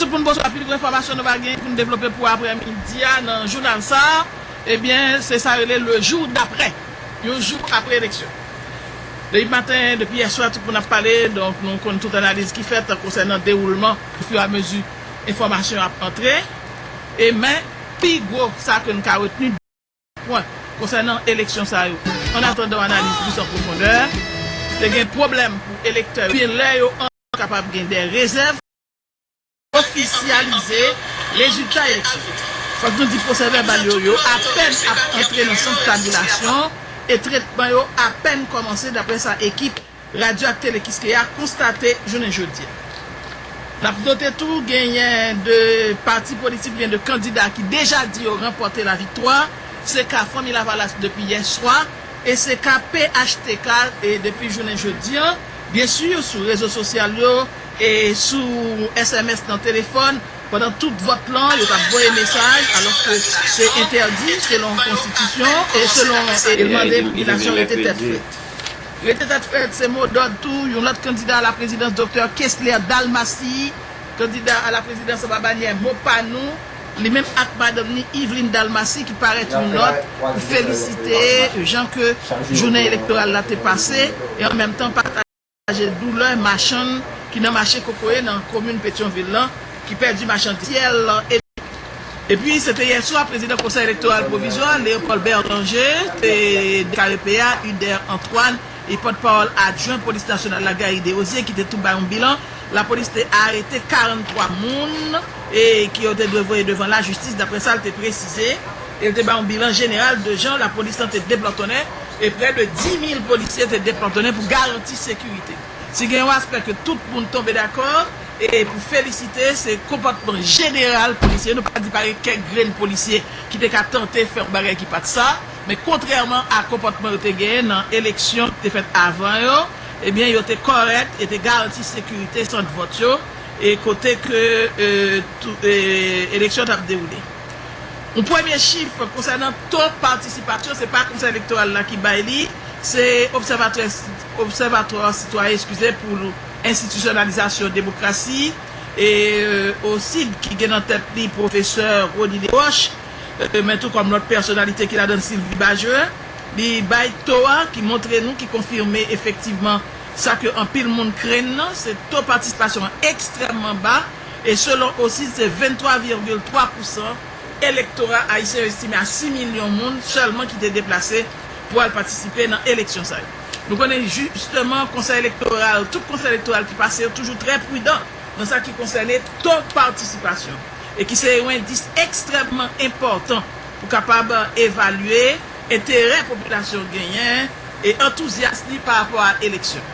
Tout moun bonswa pil enfòmasyon nou va genyen pou nou devlope pou aprè midi a nan jounal sa a ebyen se sa yo rele le jour d'après yon jou aprè eleksyon depi maten depi yè swa tout moun ap pale donk nou konn tout analiz ki fèt konsènan dewoulman o fur et à mesure enfòmasyon ap antre e men pi gwo sa ke nou ka retni de pwen konsènan eleksyon sa yo an atandan analiz plis an pwofondè te gen pwoblèm pou elektè yo lè yo antre kapab gen de rezèv. Ofisyalize rezilta eleksyon. Fòk nou di pwosèvèbal yo yo apèn ap antre nan sant kabilasyon e tretman yo apèn kòmanse daprè sa ekip Radyo ak Tele Kiskeya konstate jounen jodi a. N ap note tou genyen 2 pati politik oubyen 2 kandida ki deja di yo ranpòte laviktwa, se ka Fanmi Lavalas depi yè swa e se ka phtk depi jounen jodi an. Byensi sou rezo sosyal yo. e sou sms nan telefòn pandan tout vòt lan yo tap voye mesaj alòske se entèdi selon konstitisyon e selon e mande popilasyon rete tèt frèt. Rete tèt frèt se mo dòd tou yon lòt kandida a la prezidans Doktè Kesler Dalmassi kandida a la prezidans anba banyè Mo Pa Nou, li menm ak madanm ni Yveline Dalmassi ki parèt yon nòt pou felisite jan ke jounen elektoral la te pase e an menm tan pataje. Pataje doulè machann ki nan mache kokoye nan komin Petyonvil lan ki pèdi machandiz yo ak syèl epi se te yèswa prezidan konsèy elektoral pwovizwa Léopold Berlanger te deklare pe a Uder Antoine e pòt pawòl adjwen polis nasyonal la Gary Desrosiers ki te tou bay yon bilan lapolis te arete 43 moun ke yo te dwe voye devan lajistis daprè sa l te presize e l te bay yon bilan jeneral de jan lapolis lan te deplòtonnen e prè de 10 mil polisye te deplòtonnen pou garanti sekirite. Si gen yon aspè ke tout moun tonbe dakò e pou felisite, se konpòtman jeneral polisye yo. Nou pa di pa gen kèk grenn polisye ki te ka tante fè yon bagay ki pa t sa, men kontrèman a konpòtman yo te genyen nan eleksyon ki te fèt avan yo, ebyen yo te kòrèk, yo te garanti sekirite sant vòt yo e kote ke eleksyon t ap dewoule. Yon premye chif konsènan to patisipasyon, se pa Konsèy Elektoral la ki bay li, se Obsèvatwa Sitwayen, eskize, pou Enstitisyonalizasyon Demokrasi, OCID, ki gen nan tèt li pwofesè Rony Desroches, men tou kòm lòt pèsonalite ki ladan l Sylvie Bajoen, li bay to a ki montre nou, ki konfime efektivman sa ke anpil moun krenn nan, se to patisipasyon an ekstrèmman ba, E selon OCID, se 23 virgil 3 pousan elektora ayisyen yo estime a 6 milyon moun sèlman ki te deplase pou al patisipe nan eleksyon sa yo. Nou konnen jisteman konsèy elektoral, tout konsèy elektoral ki pase yo toujou trè pridan nan sa ki konsène to patisipasyon e ki se yon endis ekstrèmman enpòtan pou kapab evalye enterè popilasyon genyen e antouzyas li pa rapò a eleksyon.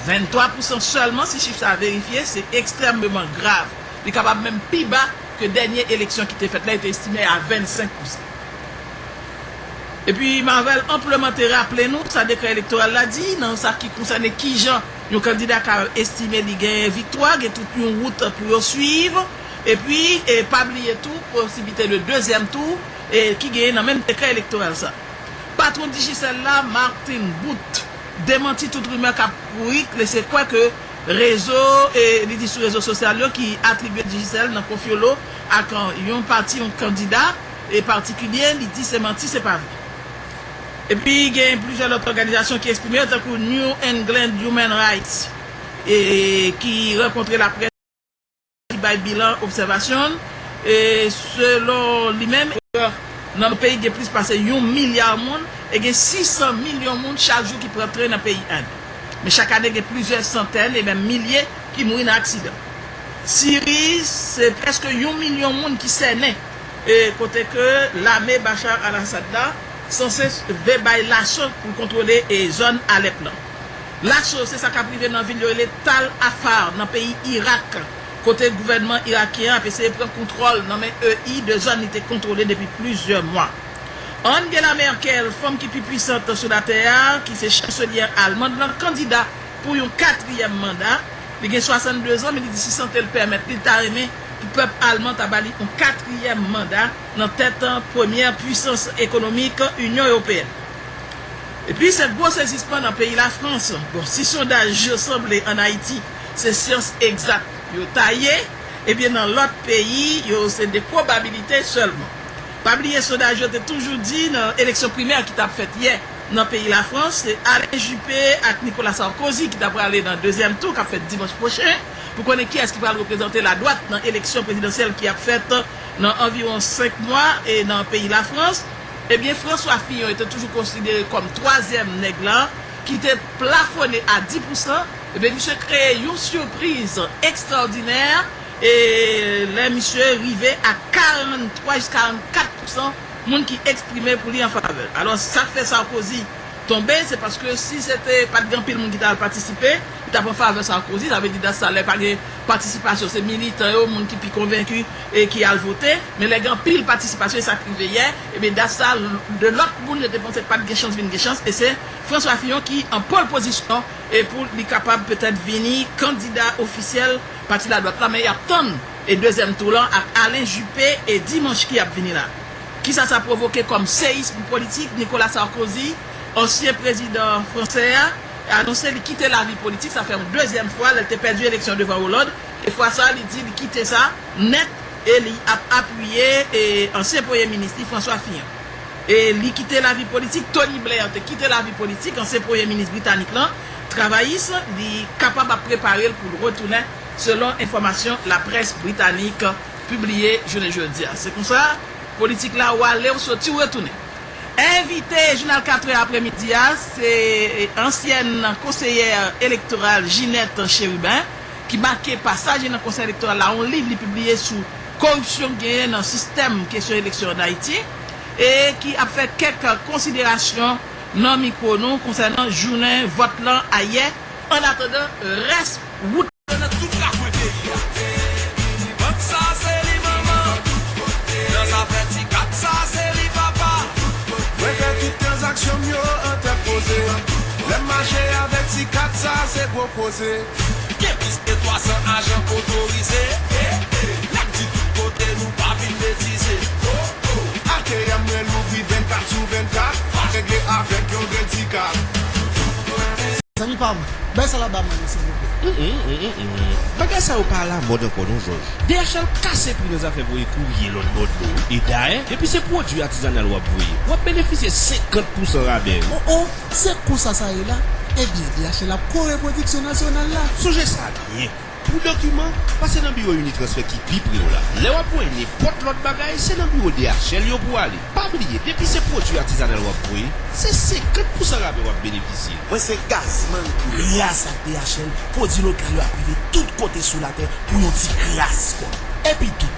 23 pousan sèlman si chif sa verifye se ekstrèmeman grav. Li kapab menm pi ba ke dènye eleksyon ki te fèt la yo te estime a 25 pousan. Epi Marvel anpleman te raple nou sa dekrè elektoral la di nan sa ki konsène kijan yon kandida ka estime li genyen viktwa, gen tout yon wout pou yo swiv. Epi pa bliye tou posiblite de dezyèm tou ki genyen nan menm dekrè elektoral sa. Patwon Digicel la, Martin Boute. demanti tout rimè k ap kouri lese kwè ke rezo e li di sou rezo sosyal yo ki atribye Digicel nan konfyolo ak yon pati yon kandida e patikilye li di se manti se pa vre. Epi gen plizyè lòt òganizasyon ki eksprime yo tankou New England Human Rights e ki rankontre laprès. ki bay bilan obsèvasyon l, e selon li menm, nan peyi gen plis pase yon milya moun e gen 600 milyon moun chak jou ki pran tren nan peyi End. Men chak ane gen plizyè santèn e menm milye ki mouri nan aksidan. Siri, se prèske yon milyon moun ki sènen e kote ke lame Bashar al-Assad la sanse ve bay laso pou l kontwole zòn Alèp lan. Lacho, se sa k ap rive nan vil yo rele Tal Afar nan peyi Irak, kote gouvènman irakyen ap eseye pran kontwòl nan men EI de zòn li te kontwole depi plizyè mwa. Angela Merkel, fanm ki pi pwisant sou latè a, ki se chanselyè almand lan, kandida pou yon katriyèm manda. Li gen 62 zan, men li di si sante l pèmèt li, li ta renmen pou pèp alman ta ba li yon katriyèm manda nan tèt premyè pwisans ekonomik Inyon Ewopeyèn. Epi se gwo sezisman nan peyi Lafrans. Bon, si sondaj yo sanble an Ayiti se syans egzak yo ta ye, ebyen nan lòt peyi yo se de pwobabilite sèlman. Pa bliye sondaj yo te toujou di nan eleksyon primè ki t ap fèt yè nan peyi Lafrans se Alain Juppé ak Nicolas Sarkozy ki ta prale nan dezyèm tou k ap fèt dimanch pwochen pou konnen kiyès ki pral reprezante ladwat nan eleksyon prezidansyèl ki ap fèt nan anviwon 5 mwa nan peyi Lafrans. Ebyen François Fillon te toujou konsidere kòm twazyèm nèg lan ki te plafone a 10 pou san, ebyen misye kreye yon sipriz ekstraòdinè lè misye rive a 43 jis 44 pou san moun ki eksprime pou li an favè l. Alò sak fè Sarkozy tonbe se paske si se te pa t gen anpil moun ki ta al patisipe li t ap an favè Sarkozy, sa vle di dat sa lè pa gen patisipasyon se militan yo moun ki pi konvenki e ki al vote, men lè gen anpil patisipasyon e sa k rive yè, ebyen dat sa a 2 lòt moun yo te panse pa t gen chans vin gen chans e se François Fillon ki an pole position e pou li kapab petèt vini kandida ofisyèl pati ladwat la men y ap tann e dezyèm tou lan ak Alain Juppé e dimanch ki ap vini la. Kisa sa pwovoke kòm seyism politik, Nicolas Sarkozy, ansyen prezidan fransè a, anonse li kite lavi politik, sa fè yon dezyèm fwa lè l te pèdi eleksyon devan Hollande, E fwa sa a li di li kite sa nèt e li ap apiye ansyen premye minis li François Fillon. E li kite lavi politik, Tony Blair te kite lavi politik, ansyen premye minis britanik lan, travayis, li kapab ap prepare l pou l retounen selon enfòmasyon laprès britanik pibliye jounen jodi a. Se konsa politik la ou ale ou soti ou retounen. Envite jounal 4 è apre midi a se ansyèn konseyè elektoral Ginette Chérubin. ki make pasaj li nan Konsèy Elektoral la, yon liv li pibliye sou koripsyon ki genyen nan sistèm kesyon eleksyon ann Ayiti e ki ap fè kèk konsiderasyon nan mikwo nou konsènan jounen vòt lan ayè annatandan rès wout la. Gen plis ke 300 ajan otorize N ap di tout kote nou pa vin betize ATM mwen louvri 24 sou 24 Pa regle avèk yon grenn ti kat Zanmi pam, bay sa la ba mwen non silvouplè. Bagay sa yo pa alamòd ankò non jòj. DHL kase pri nan zafè voye kourye lòtbò dlo e dayè depi se pwodui atizanal wap voye wap benefisye 50 pousan rabè o o. Se konsa sa ye la? Ebyen, li achte la pou kò repwodiksyon nasyonal la. Sonje sa byen, Pou dokiman, pase nan biwo Unitransfer ki pi pre w la. Lè w ap voye nenpòt lòt bagay, se nan biwo DHL yo pou w ale. Pa bliye, depi se pwodui atizanal w ap voye, se 50 pousan rabè w ap benefisye. Mwen se Gazzman pou lè. Gras ak DHL, pwodui lokal yo ap rive tout kote sou latè pou yon ti kras kòb. Epitou,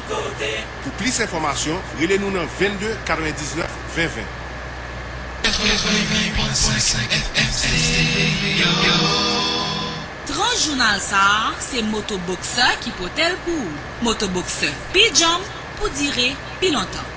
Pou plis enfòmasyon, rele nou nan 22 99 20 20. Tran jounal sa a se Moto Boxer ki pote l pou ou. Moto Boxer pi djanm pou dire pi lontan.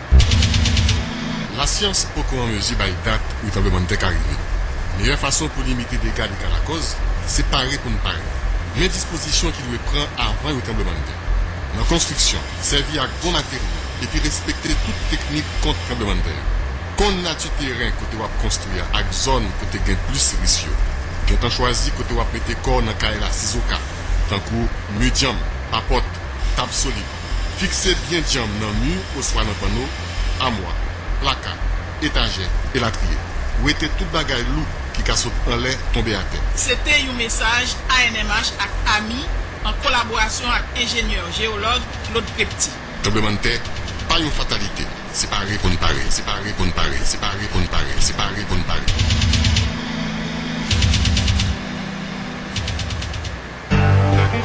Lasyans poko an mezi bay dat yon tranblemann tè ka rive. Meyè fason pou limite dega li ka lakòz, se pare pou n pare. Men dispozisyon ki dwe pran avan yon tranblemann tè. Nan konstriksyon, sèvi ak bon materyo epi respekte tout teknik kont tranblemann tè yo. Konn nati teren kote w ap konstwi a ak zòn kote gen plis ris yo. Gentan chwazi kote w ap mete kò w nan kay la sizoka, tankou mi dyanm, papòt, tab solid. Fikse byen djanm nan mi oswa nan panno, amwa, plaka, etajè, elatriye. Wete tout bagay lou ki ka sot anlè tonbe atè. Se te yon mesaj ANMH ak ami an kolaborasyon ak enjenyè jeyològ Claude Prepti. Tranblemann tè pa yon fatalite, se pare pou n pare, se pare pou n pare, se pare pou n pare, se pare pou n pare.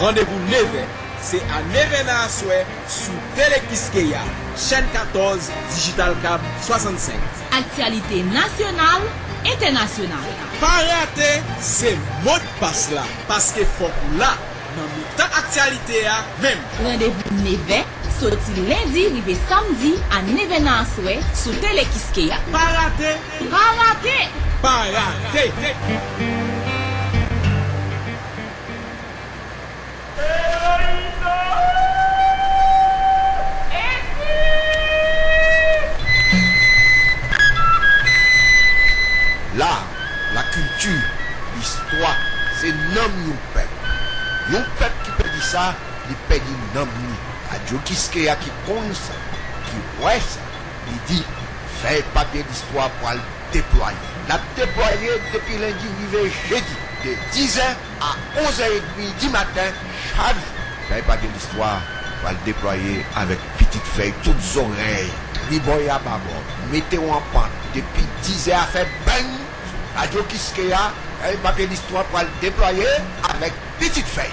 Randevou nevè, se a nevè nan aswè sou Tele Kiskeya, chèn 14, dijital kab 65. Aktyalite nasyonal, entènasyonal. Pa rate, se modpas la, paske fòk ou la nan mitan aktyalite a menm. Randevou nevè, soti lendi rive samdi a nevè nan aswè sou Tele Kiskeya. Pa rate! Pa rate! Pa rate! La, la kilti, listwa, se nanm yon pèp. Yon pèp ki pèdi sa, li pèdi nanm li. Radyo Kiskeya ki konn sa, ki wè sa, li di, Fèy papye listwa pral. deplwaye. L ap deplwaye depi lendi rive jedi, de 10 zè a 11 zè edmi di maten chak jou. Fèy pa gen listwa pral deplwaye avèk pitit fèy tout zorèy, tribò e ababò. Mete w an pant depi 10 zè a fè bang sou Radyo Kiskeya, Fèy pa gen listwa pral deplwaye avèk pitit fèy.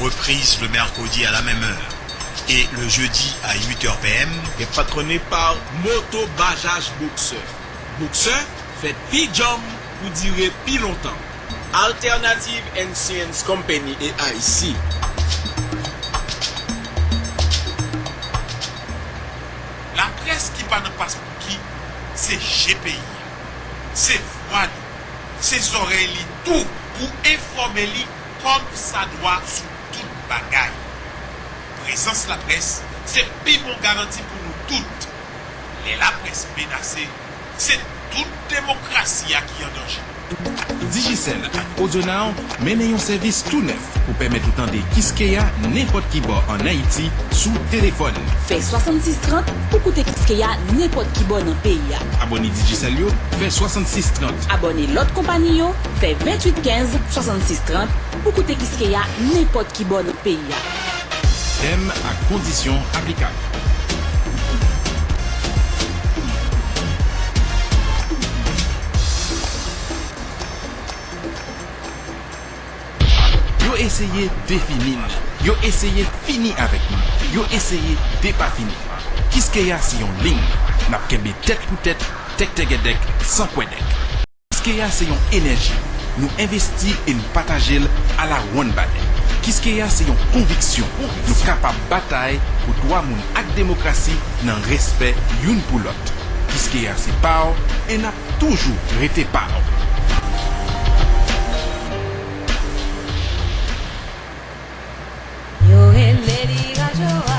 Reprise le mercredi à la même heure et le jeudi à 8 heures PM. Gen patrone pa Moto Bajaj Boxer. Boxer fèt pi djanm pou dire pi lontan. Alternative Insurance Company et Haiti. Laprès ki pa nan paspouki se je peyi a, se vwa li, se zòrèy li tou pou enfòme li kòm sa dwa sou tout bagay. Prezans laprès se pi bon garanti pou nou tout. Lè laprès menase, se tout demokrasi a ki an danje. Digicel ak AudioNow mennen yon sèvis tou nèf pou pèmèt ou tande Kiskeya nenpòt ki bò an Ayiti sou telefòn. Fè 66 30 pou koute Kiskeya nenpòt ki bò nan peyi a. Abòne Digicel yo, fè 66 30. Abòne lòt konpani yo, Fè 28 15 66 30 pou koute Kiskeya nenpòt ki bò nan peyi a. Tèm ak kondisyon aplikab. Yo eseye defini n. Yo eseye fini avèk nou. Yo eseye depafini. Kiskeya se yon ling. N ap kenbe tèt pou tèt, tèktègèdèk, san kwèdèk. Kiskeya se yon enèji, nou envesti e n pataje l ala wonn bale. Kiskeya se yon konviksyon, nou kapab batay pou dwa moun ak demokrasi nan respè youn pou lòt. Kiskeya se pa w e n ap toujou rete pa w. Yo rele li rajo a.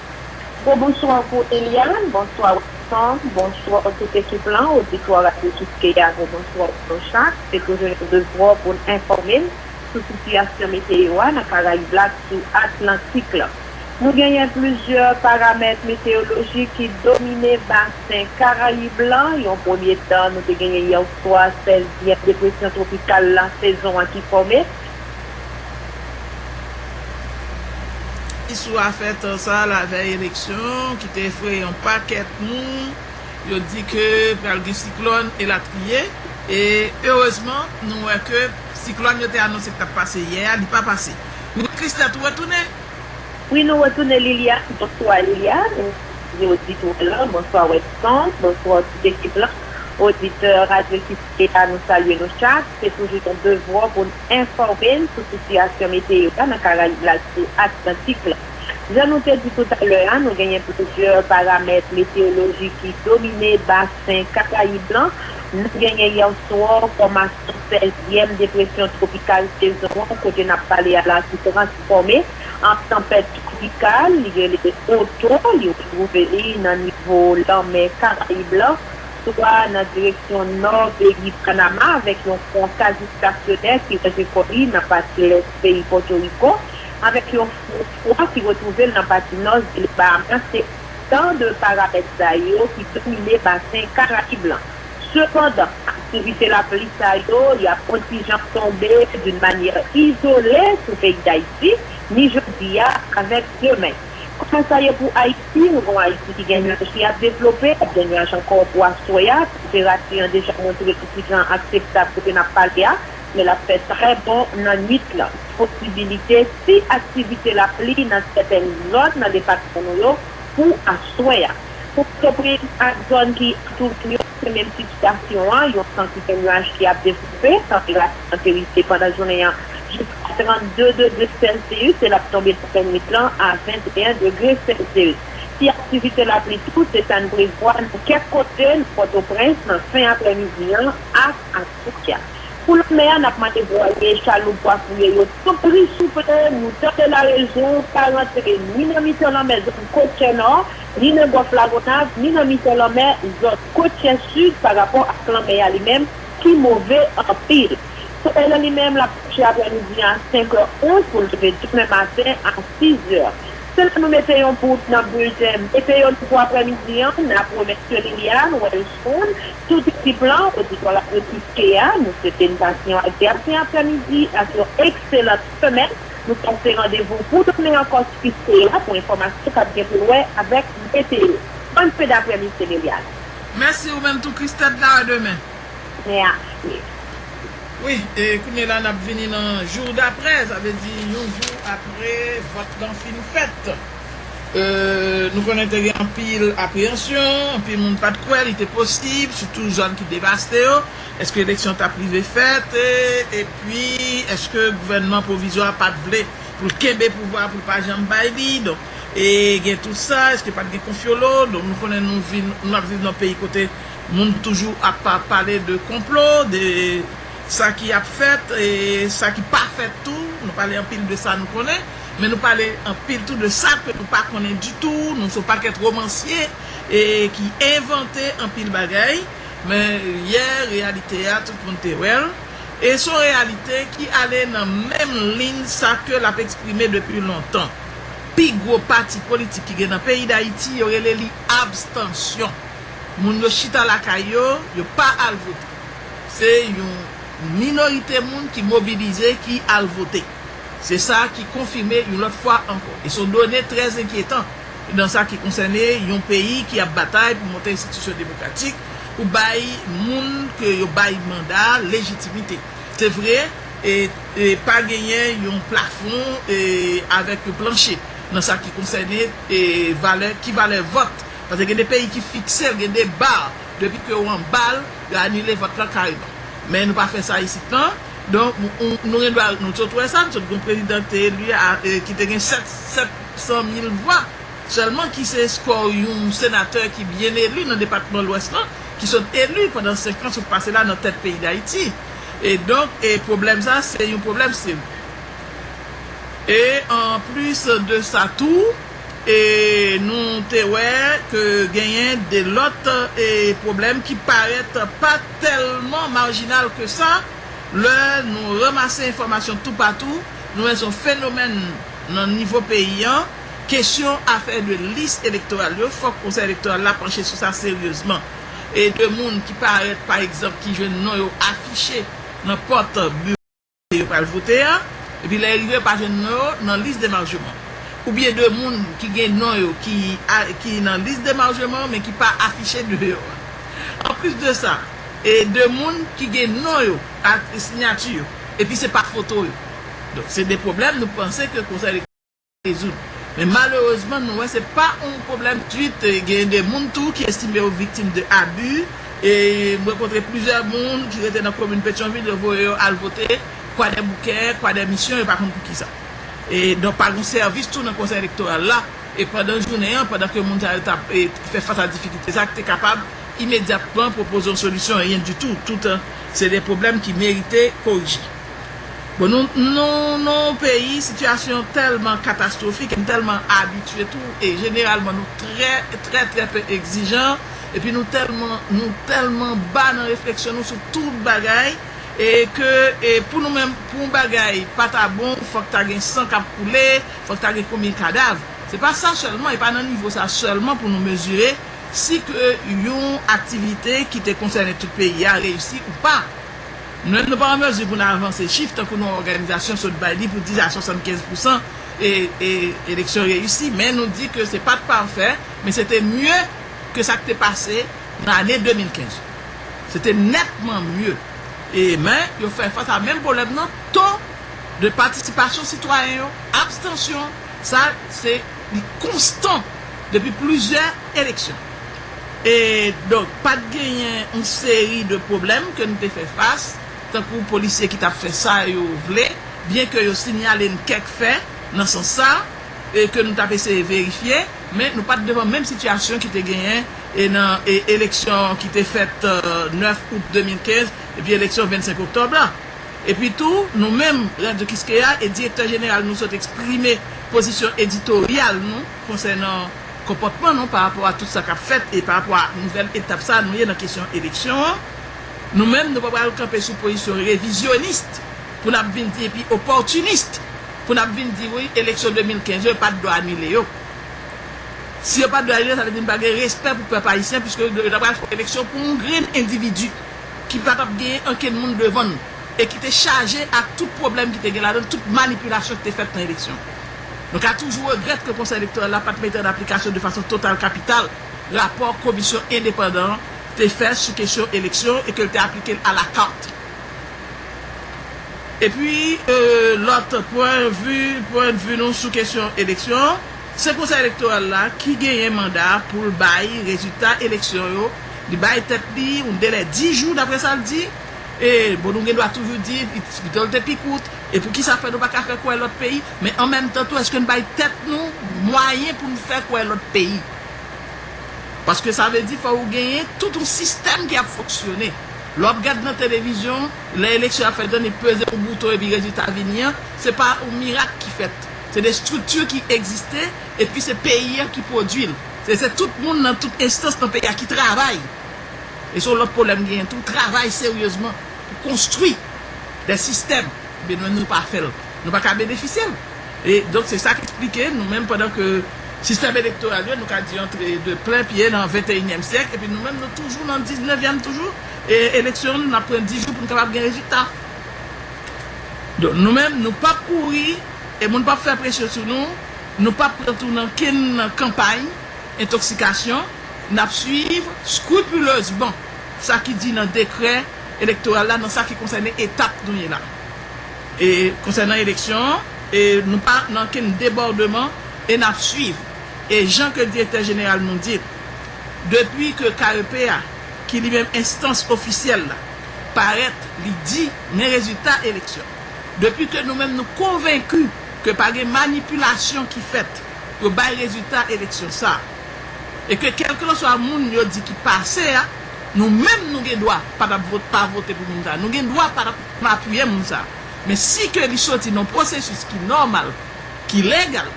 Gwo bonswa pou Eliane, bonswa Wilson, bonswa tout ekip lan, oditwa radyo Kiskeya gwo bonswa pou nou chak, se toujou yon devwa pou n enfòme n sou sitiyasyon meteyo a nan Karayib la ak sou Atlantik lan. Nou genyen plizyè paramèt meteyolojik ki domine basen Karayib lan, yon premye tan nou te genyen yèswa 16 zièm depresyon twopikal la sezon an ki fòme, Isou a fè tan sa lavèy eleksyon ki te efreye yon pakèt moun, yo di ke pral gen siklòn elatriye e erezman nou wè ke siklòn yo te anonse ki t ap pase yè a li pa pase. Wi Christette ou retounen? Wi nou retounen Liliane, bonswa Liliane, bonswa Audit Roland, bonswa Weston, bonswa tout ekip lan, oditè radyo ki. Epa nou salye nou chak, se toujou yon devwa pou n enfòme n sou sitiyasyon meteyo a nan Karayib la ak sou Atlantik la. Jan nou te di toutalè a, nou genyen plizyè paramèt meteyolojik ki domine basen Karayib lan. Nou genyen yèswa fòmasyon sèzyèm depresyon twopikal sezon an kote n ap pale a la ki transfòme an tanpèt twopikal li rele Otto, li retwouve li nan nivo lanmè Karayib lan Swa nan direksyon nò peyi Panama avèk yon pon kazi stasyonè ki lonje kò li nan pati lès peyi Pòtoriko, avèk yon fon fwa ki retwouve l nan pati nò zile Bahamas se otan de paramèt sa yo ki domine basen Karayib lan. Sepandan, aktivite lapli sa yo y ap on ti jan tonbe d'une manière isolée sou peyi Dayiti, ni jodi a avèk demen. Kòman sa ye pou Ayiti? Nou gen yon Ayiti ki gen nyaj ki ap devlope, k ap gen nyaj ankò pou aswè a. Tanperati an deja montre pou ki jan akseptab kote n ap pale a, men l ap fè trè bon nan nuit lan. Posibilite ti aktivite lapli nan sètèn zòn nan depatman nou yo pou aswè a. Pou Pòtoprens ak zòn ki antoure l yo. Se menm tip stasyon an, yon sant ipenwaj ki ap desoufe, tanperati nan Perite pandan jounen an jiska 32 degre sèlsiyis e l ap tonbe nan lannwit lan a 21 degre sèlsiyis. Ti aktivite lapli tou, se sa n prevwa nan kèk kote nan Pòtoprens nan fen aprèmidi an ak aswè a. Pou lanmè a, n ap mande vwaye chaloup wafouye yo tanpri souple nou tande larezon pa rantre ni nan mitan lanmè zòn Kokenò, ni nan Gòlf Lagonav, ni nan mitan lanmè zòn kotyè sid parapò ak lanmè a li menm ki move anpil. Solèy la li menm l ap kouche aprè midi a 5 è ou pou l leve demen maten a 6 è. Se la nou mete yon bout nan bilten Meteyo nou pou aprè midi an. N ap remèsye Liliane Wellson, tout ekip lan, oditwa Radyo Tiske a. Nou swete n pase yon agreyab fen aprè midi ak yon ekselan semèn. Nou pase randevou pou demen an kòs Fiske a pou enfòmasyon kap gen pou wè avèk meteo. Bòn fen daprè midi se Liliane. Mèsi ou menm tou Christette la a demen. Mè a ple. Wi e kounye la nap vini nan jour daprè sa vle di yon jou apre vòt lan fin fèt e nou konnen te gen anpil apreyansyon anpil moun pat kwè li te posib sitou zòn ki devaste yo Èske eleksyon t ap rive fèt? Epi, èske gouvènman pwovizwa a pa t vle pou l kenbe pouvwa a pou l pa janm bay li? Donk, e gen tout sa, èske pa t gen konfyolo? Donk, nou konnen nou vin, nou ap viv nan yon peyi kote moun toujou ap pale de konplo, de sa ki ap fèt e sa ki pa fèt tou. Nou pale anpil de sa nou konnen, men nou pale anpil tou de sa ke nou pa konnen ditou. Nou se yon pakèt romansye e ki envante anpil bagay. Men, li ye reyalite a, tout moun te wè l, e s on reyalite ki ale nan menm liy sa ke l ap eksprime depi lontan. Pi gwo pati politik ki gen nan peyi Dayiti, yo rele li abstansyon. Moun yo chita lakay yo, yo pa al vote. Se yon minorite moun ki mobilize ki al vote. Se sa ki konfime yon lòt fwa ankò. E s on done trè zenkyetan. Nan sa ki konsène yon peyi ki ap batay pou monte enstitisyon demokratik, pou bay moun ke yo bay manda a lejitimite. Se vre, pa genyen yon plafon avèk yon planche nan sa ki konsène valè, ki valè vòt. Paske gen de peyi ki fikse l, gen de bar, depi ke ou anba l, yo anile vòt lan kareman. Men nou pa fè sa isit lan. Donk, nou gen dwa, nou sot wè sa, nou sot gen yon prezidan ki te eli a, ki te gen 7. 100 mil vwa sèlman ki se eskò yon senatè ki byen eli nan depatman lwès lan ki sot eli pandan 5 an sot pase la nan tèt peyi dayiti e donk e pwoblèm sa se yon pwoblèm serye e an plis de sa tou e nou te wè ke genyen de lòt e pwoblèm ki parèt pa tèlman marjinal ke sa lè nou ranmase enfòmasyon toupatou nou wè son fenomèn. Nan nivo peyi an, kesyon afè de lis elektoral yo, fòk Konsèy Elektoral la panche sou sa seryezman. E de moun ki parèt, pa egzanp, ki jwenn non yo afiche nan pòt biwo kote yo pral vote a, epi lè yo rive yo pa jwenn non yo nan lis demarjeman. Oubyen de moun ki gen non yo ki nan lis demarjeman an men ki pa afiche deyò a. Anplis de sa, e de moun ki gen non yo ak siyati yo, epi se pa foto yo. Donk se de pwoblèm nou panse ke konsèy elektwòral ka rezoud. Men malerezman nou wè se pa yon pwoblèm twit gen de moun tou ki estime yo viktim de abi e m rankontre plizyè moun ki rete nan komin Petyonvil yo voye yo al vote Kwadèboukè, Kwadèmisyon yo pa konn pou kisa. E donk pa gon sèvis tou nan konsèy elektoral la e pandan jounen an pandan ke moun sa yo t ap fè fas a difikilte sa ki te kapab imedyatman pwopoze yon solisyon anyen ditou toutan se de pwoblèm ki merite korije. Bon nou nou nan yon peyi sitiyasyon tèlman katastwofik e n tèlman abitye tou e jeneralman nou trè trè trè pe egzijan epi nou tèlman nou tèlman ba nan refleksyon nou sou tout bagay e ke e pou nou menm pou yon bagay pa ta bon fòk ta gen san k ap koule fòk ta gen konbyen kadav se pa sa sèlman e pa nan nivo sa sèlman pou nou mezire si ke yon aktivite ki te konsène tout peyi a reyisi ou pa. Menm nou pa an mezi pou n avanse chif tankou nou òganizasyon sot bay li pou di a 75 pousan e eleksyon reyisi men nou di ke se pa t pafè men se te mye ke sa k te pase nan ane 2015 yo. Se te nètman mye e men yo fè fas a menm pwoblèm nan to de patisipasyon sitwayen yo, abstansyon sa se li konstan depi plizyè eleksyon. E donk pa t genyen yon seri de pwoblèm ke n te fè fas, tankou polisye ki t ap fè sa yo vle, byen ke yo sinyale n kèk fè nan sans sa e ke nou t ap eseye verifye, men nou pa t devan menm sitiyasyon ki te genyen e nan e eleksyon ki te fèt 9 out 2015 epi eleksyon 25 oktòb la. Epi tou, nou menm, Radyo Kiskeya, e direktè jeneral nou sot eksprime pozisyon editoryal nou, konsènan konpòtman nou pa rapò a tout sa k ap fèt e pa rapò a nouvèl etap sa a nou ye nan kesyon eleksyon an, nou menm nou pa pral kanpe sou pozisyon revizyonist pou n ap vin di epi opòtinis pou n ap vin di wi eleksyon 2015 yo yo pa t dwe anile yo. Si yo pa t dwe anile sa vle di nou pa gen respè pou pèp ayisyen piske yo ta pral fè eleksyon pou yon grenn endividi ki pa t ap genyen ankenn moun devan l e ki te chaje ak tout pwoblèm ki te gen ladan l, tout manipilasyon ki te fèt nan eleksyon. Nou ka toujou regrèt ke Konsèy Elektoral la pat mete an aplikasyon de fason total kapital rapò komisyon endepandan an te fè sou kesyon eleksyon e ke l te aplike l alakart. Epi lòt pwennvi pwennvi nou sou kesyon eleksyon an, se Konsèy Elektoral la ki genyen manda pou l bay rezilta eleksyon yo, li bay tèt li yon delè 10 jou dapre sa l di, e bon nou gen dwa toujou di pito l te pi kout, e poukisa fè nou pa ka fè kwè lòt peyi Men an menm tan tou eske n bay tèt nou mwayen pou n fè kwè lòt peyi? Paske sa vle di fò ou genyen tout yon sistèm ki ap fonksyone. Lè w ap gad nan televizyon, lè eleksyon ap fèt, ni peze yon bouton epi rezilta a vini an, se pa yon mirak ki fèt. Se de estrikti ki egziste epi se peyi a ki pwodui l. E se tout moun nan tout enstans nan peyi a ki travay. E se yon lòt pwoblèm genyen tou, travay seryezman pou konstwi de sistèm, ebyen nou menm nou pa fè l. Nou pa ka benefisye l. E donk se sa k esplike nou menm pandan ke sistèm elektoral yo nou ka di antre de plen pye nan venteyinyèm syèk epi nou menm nou toujou nan diznevyèm toujou e eleksyon nou n ap pran di jou pou n kapab gen rezilta. Donk nou menm nou p ap kouri e moun p ap fè presyon sou nou, nou p ap pran tou nan kenn kanpay entoksikasyon, n ap suiv scrupuleusement sa ki di nan dekrè elektoral la nan sa ki konsène etap nou ye la. E konsènan eleksyon an, e nou pa nan ken debòdeman e n ap swiv. E jan ke Direktè Jeneral nou di l, depi ke KEP a, ki li menm enstans ofisyèl la, parèt, li di men rezilta eleksyon. Depi ke nou menm nou konvenki ke pa gen manipilasyon ki fèt pou yo bay rezilta eleksyon sa a, e ke kèlkelanswa moun yo di ki pase a, nou menm nou gen dwa pa t ap vote, pa vote pou moun sa a. Nou gen dwa pa t ap Pa touye moun sa a. Men si ke li soti nan yon pwosesis ki nòmal, ki legal,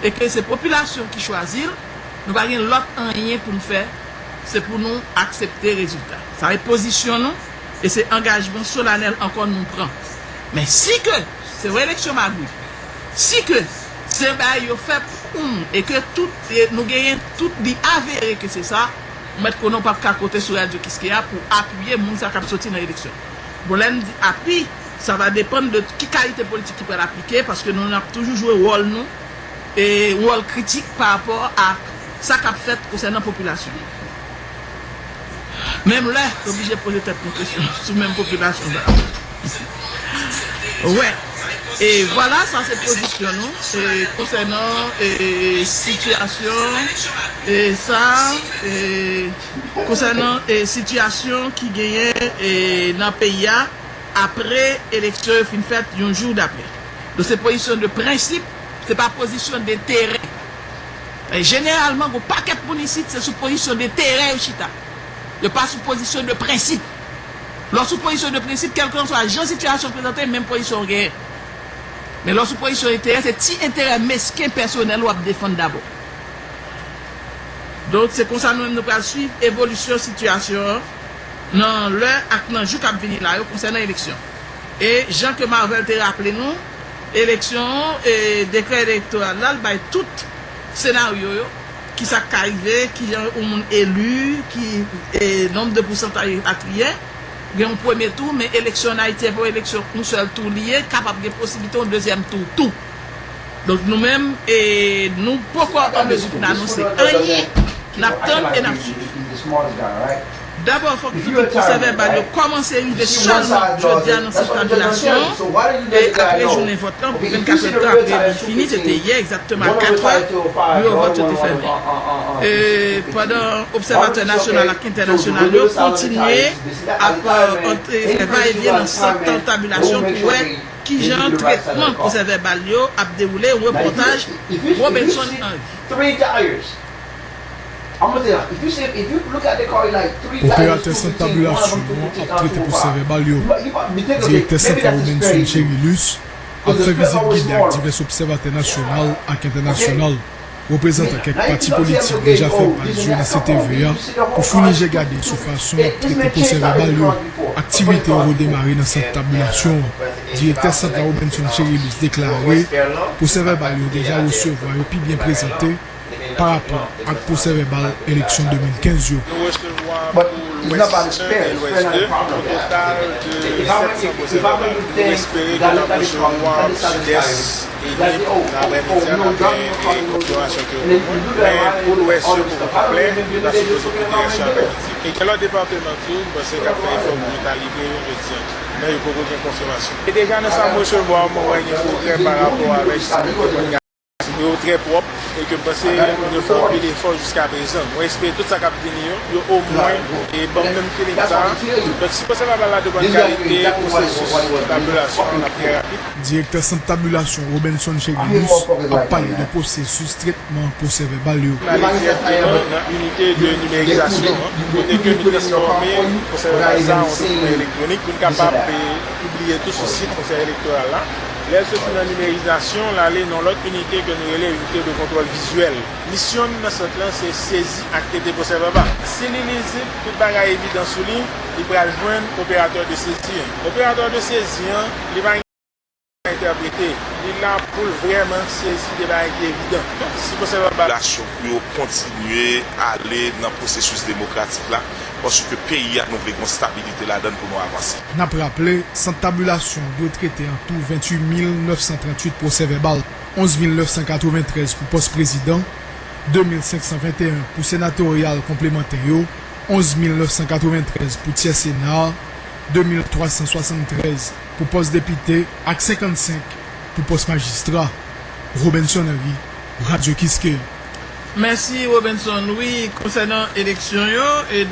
e ke se popilasyon ki chwazi l, nou pa gen lòt anyen pou n fè, se pou nou aksepte rezilta. Sa e pozisyon nou e se angajman solanèl ankò nou pran. Men si ke se yon eleksyon magouy, si ke se bay yo fè pou oun e ke tout, nou genyen tout, li avere ke se sa, ou mèt konnen ou pap ka konte sou Radio Kiskeya pou apiye moun sa k ap soti nan eleksyon. Bon lè n di api, sa va depann de ki kalite politik ki pral aplike, paske nou ap toujou jwe wòl nou, e yon wòl kritik pa rapò ak sa k ap fèt konsènan popilasyon an. Menm lè n oblije poze tèt nou kesyon sou menm popilasyon sa yo. Wè, e vwala sa se pozisyon nou konsènan sitiyasyon sa a. Konsènan sitiyasyon ki genyen nan peyi a apre eleksyon yo fin fèt yon jou dapre nou se pozisyon de prensip se pa pozisyon de terè e jeneralman gon pakèt moun isit se sou pozisyon de terè yo chita yo pa sou pozisyon de prensip lè w sou pozisyon de prensip kèlkanswa jan sitiyasyon prezante menm pozisyon w genyen men lè w sou pozisyon de terè se ti enterè mesken pèsonèl w ap defann dabò. Donk, se konsa nou menm nou pral swiv evolisyon sitiyasyon an nan lè ak nan jou k ap vini la yo konsènan eleksyon. E jan ke Marvel te raple nou, eleksyon an, dekrè elektoral la, l bay tout senaryo yo, ki sa k ka rive, ki jan yon moun eli, ki nonb de pousantaj elatriye. Gen yon premye tou, men eleksyon an Ayiti, se pa yon eleksyon yon sèl tou li ye, kapab gen posiblite yon dezyèm tou tou. Donk nou menm nou poko an mezi pou n anonse anyen, n ap tann e n ap suiv. Dabò fòk tout pwosèvèbal yo kòmanse rive sèlman jodi a nan sant tabilasyon apre jounen vòt lan pou 24 èdtan apre li fini, se te yè egzakteman a 4 è, biwo vòt yo te fèmen. Pandan obsèvatè nasyonal ak entènasyonal yo kontinye ap antre fè va e vyen nan sant tabilasyon pou wè. Kijan tretman pwosè vèbal yo ap dewoule, repòtaj Robenson Henri. Operatè sant tabilasyon an ap trete pwosè vèbal yo. Direktè sant la Robenson Cherilus ap fè vizit gide ak divès obsèvatè nasyonal ak entènasyonal. Reprezantan kèk pati politik deja fè paj jounen CTV a pou founi je gade sou fason y ap trete pwosè vèbal yo. Aktivite yo redemare nan sant tabilasyon an. Direktè sant la Robenson Cherilus deklare pwosè vèbal yo deja resevwa yo pi byen prezante pa rapò ak pwosè vèbal eleksyon 2015 yo. Nou resevwa pou lwès 1 e lwès 2 yon total de 700 pwosè vèbal. Nou espere ke nan pwochen mwa, sidès. Li vle pou travè medya la fè konfigurasyon ke yo pou moun, men pou lwès yo poko konplè, li pa sipoze kite rès yo avèk Lidye. E gen lòt departeman tou m panse kap fè efò pou yo ta livre yo jodi an tou, men yo poko gen konfimasyon. E deja nan sa m resevwa mwen wè gen pwogrè pa rapò avèk sa yo te konn gade. Yo trè pwòp e ke m panse moun yo fè anpil efò jiska prezan. Mwen espere tout sa kap vini yo, yo o mwen e banm menm feeling sa. Donk si pwosè va ba la depann kalite pwosesis evalyasyon an ap trè rapid. Direktè Sant Tabilasyon Robenson Cheguilus ap pale de pwosesis tretman pwosè vèbal yo. N ale dirèkteman nan inite de nimerizasyon an, kote ke nou transfòme pwosè vèbal sa an dokiman elektwonik pou n kapab pibliye tou sou sit Konsèy Elektoral la. Lè l soti nan nimerizasyon, l ale nan lòt inite ke nou rele inite de kontwòl vizyèl. Misyon n nan sant lan se sezi ak trete pwosè vèbal. Si li lizib, tout bagay evidan sou li, li pral jwenn operatè de sezi an. Operatè de sezi an. Li pa gen pou l entèprete. Li la pou l vrèman sezi de bagay ki evidan. Si konsèy la ba. Lasyon pou yo kontinye ale nan pwosesis demokratik la, paske peyi a nou vle gen yon stabilite ladann pou nou avanse. N ap raple, Sant Tabilasyon dwe trete antou 28 mil 938 pwosèvèbal, 11 mil 993 pou pòs prezidan, 2 mil 521 pou senatoryal konplemantè yo, 11 mil 993 pou tyè sena a, 2373 pou pòs depite ak 55 pou pòs majistra, Robinson Henry, Radio Kiskeya. Mèsi Robinson, wi konsènan eleksyon yo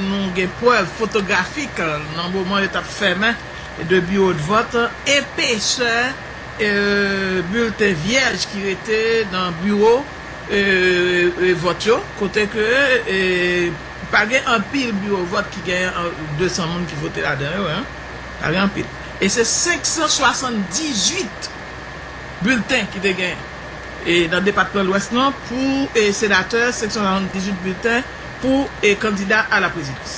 nou gen prèv fotografik nan moman yo tap fèmen 2 biwodvòt, epesè bilten vyèj ki rete nan biwo vòt yo kote ke. Pa gen anpil biwo vòt ki gen 200 moun ki vote ladan yo. Pa gen anpil. E se 578 bilten ki te gen nan depatman Lwès lan pou senatè, 578 bilten pou kandida a la prezidans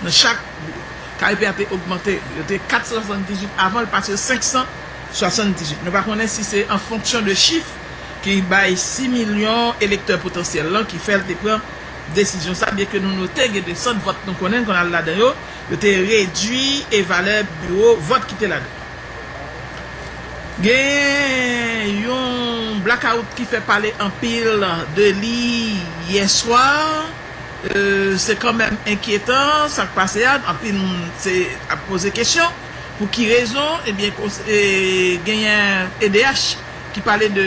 nan chak biwo. Kaypi a te ogmante. Yo te 478 avan, l pase yo 578. Nou pa konnen si se an fonksyon de chif ki bay 6 milyon elektè potansyèl lan ki fè l te pran. desizyon sa, byenke nou note gen de sant vòt nou konnen konn al ladan yo, yo te redui e valè biwo vòt ki te ladan. Gen yon blakawout ki fè pale anpil de li yè swa, se kanmenm enkyetan sa k pase a, anpil moun se ap poze kesyon pou ki rezon, ebyen genyen edh ki pale de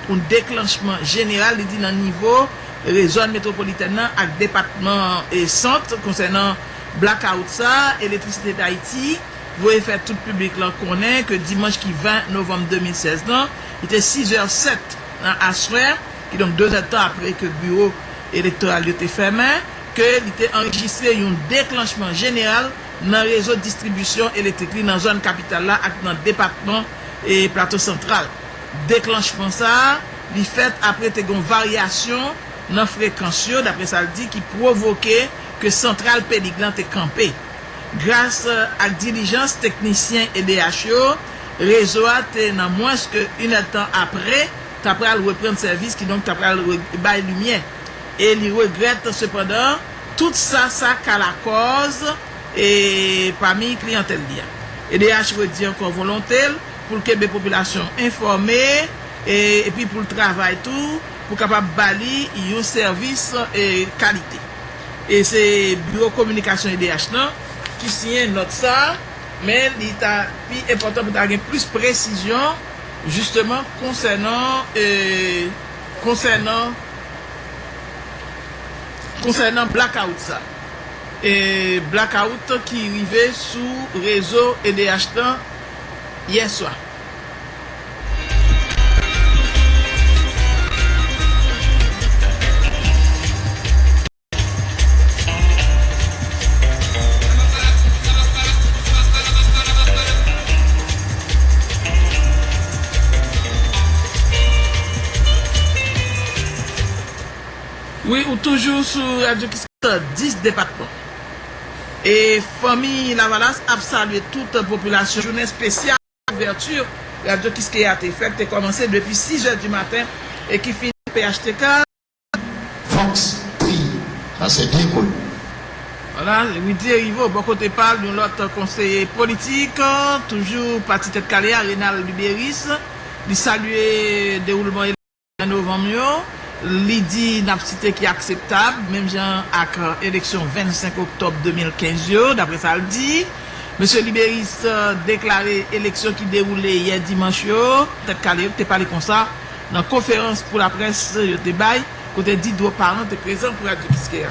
yon deklanchman jeneral li di nan nivo Rezòn metwopolitèn nan ak depatman Sant konsènan blackout sa a, Electricité d'Haïti voye fè tout piblik lan konnen ke dimanch ki 20 novanm 2016 lan, li te 6 zè 7 nan aswè, kidonk 2 zè tan apre ke biwo elektoral yo te fèmen, ke li te anrejistre yon deklanchman jeneral nan rezo distribisyon elektrik li nan zòn kapital la ak nan depatman Plato Santral. Deklanchman sa a. Li fèt apre te gen yon varyasyon nan frekans yo, dapre sa l di, ki pwovoke ke santral Pelig lan te kanpe. Gras ak dilijans teknisyen edh yo, rezo a te nan mwens ke inèdtan apre ta pral reprann sèvis, kidonk ta pral rebay limyè. E li regrèt sepandan tout sa sa ka lakòz pami kliyantèl li a. Edh redi ankò volonte l pou l kenbe popilasyon an enfòme e epi pou l travay tou pou kapab ba li yon sèvis kalite. E se biwo kominikasyon edh lan ki siyen nòt sa a, men li ta pi enpòtan pou ta gen plis presizyon jisteman konsènan konsènan konsènan blakawout sa a, blakawout ki rive sou rezo edh lan. yèswa. Wi ou toujou sou radyo ki sot nan 10 depatman. Fanmi Lavalas ap salye tout popilasyon jounen espesyal ouvèti Radyo Kiskeya te fè, ki te kòmanse depi 6 zè di maten e ki fini phtk. Vox Populi, Sa se byen kou l. Wala, Rudy Heriveaux bò kote pa l, yon lòt konseye politik, toujou pati Tèt Kale a, Rénald Lubérice, li salye dewoulman eleksyon. An novanm yo, li di nan psite ki akseptab, menm jan ak eleksyon 25 oktòb 2015 yo, dapre sa l di. Mesye Liberis deklare eleksyon ki dewoule yè dimanch yo, Tèt Kale yo ki te pale konsa nan konferans pou laprès yo te bay, kote Didro Parent te prezan pou Radio Kiskeya.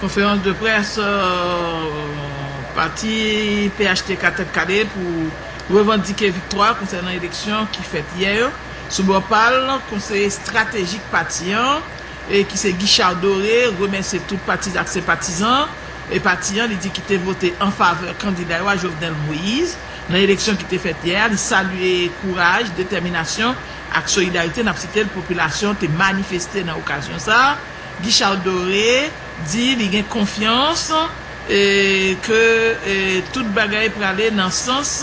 Konferans de près pati phtk tèt kale pou revandike viktwa konsènan eleksyon ki fèt yè yo. Sou bò pa l, konseye estratejik pati an ki se Guichard Doré remèsye tout patizan ak senpatizan pati an li di ki te vote an favè kandida yo a Jovenel Moise nan eleksyon ki te fèt yè a. Li salye kouraj, detèminasyon ak solidarite, n ap site l, popilasyon te manifeste nan okazyon sa a. Guichard Doré di li gen konfyans ke tout bagay prale nan sans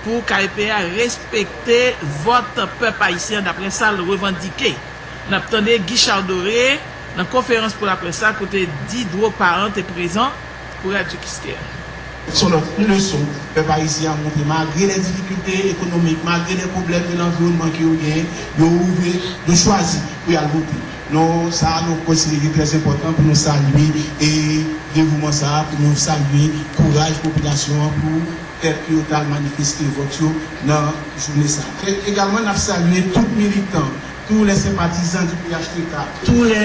pou KEP a respekte vòt pèp ayisyen an daprè sa l revandike. N ap tande Guichard Doré nan konferans pou laprès la kote Diderot Parent te prezan. pou Radyo Kiskeya. Se yon lòt leson pèp ayisyen an montre malgre lè difikilte ekonomik, malgre lè pwoblèm de lanviwònman ke yo genyen, yo ouvè, yo chwazi pou y al vote. Non sa a nou konsidere ki trè enpòtan pou nou salye devouman sa a, pou nou salye kouraj popilasyon an pou fèt ke yo t al manifeste vòt yo nan jounen sa a. E egalman n ap salye tout militan, tou lè senpatizan di phtk, tou lè.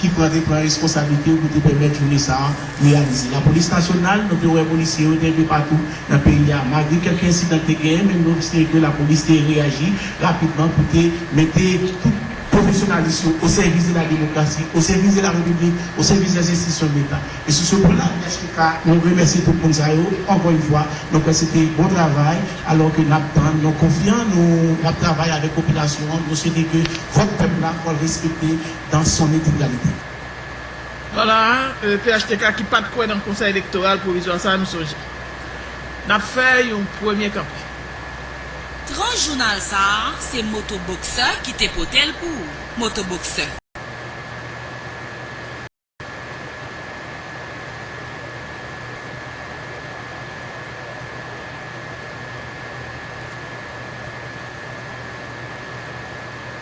ki pran te pran reskonsablite pou te pèmèt jounen sa a reyalize. Lapolis nasyonal, nou te wè polisye yo te enpe patou nan peyi a malgre kèk ensidan ki te genyen men nou estime ke lapolis te reyaji rapidman pou te mete tout pwofesyonalis yo o sèvis de la demokrasi, o sèvis de la repiblik, o sèvis des enstitisyon de leta. E sou se pwen la UHTK nou remèsye tout moun sa yo ankò yn fwa, nou kwè se te bon travay alò ke n ap tann, nou konfyan nou n ap travay avèk popilasyon an, nou swete ke vòt pèp la pral respekte. dans son integralite. Pala a, phtk ki pat kwè nan konsèy elektoral pwovizwa sa nou sonje. Nap fè yon premye kanpe. Tran jounal sa a se moto boksè ki te pote l pou ou moto boksè.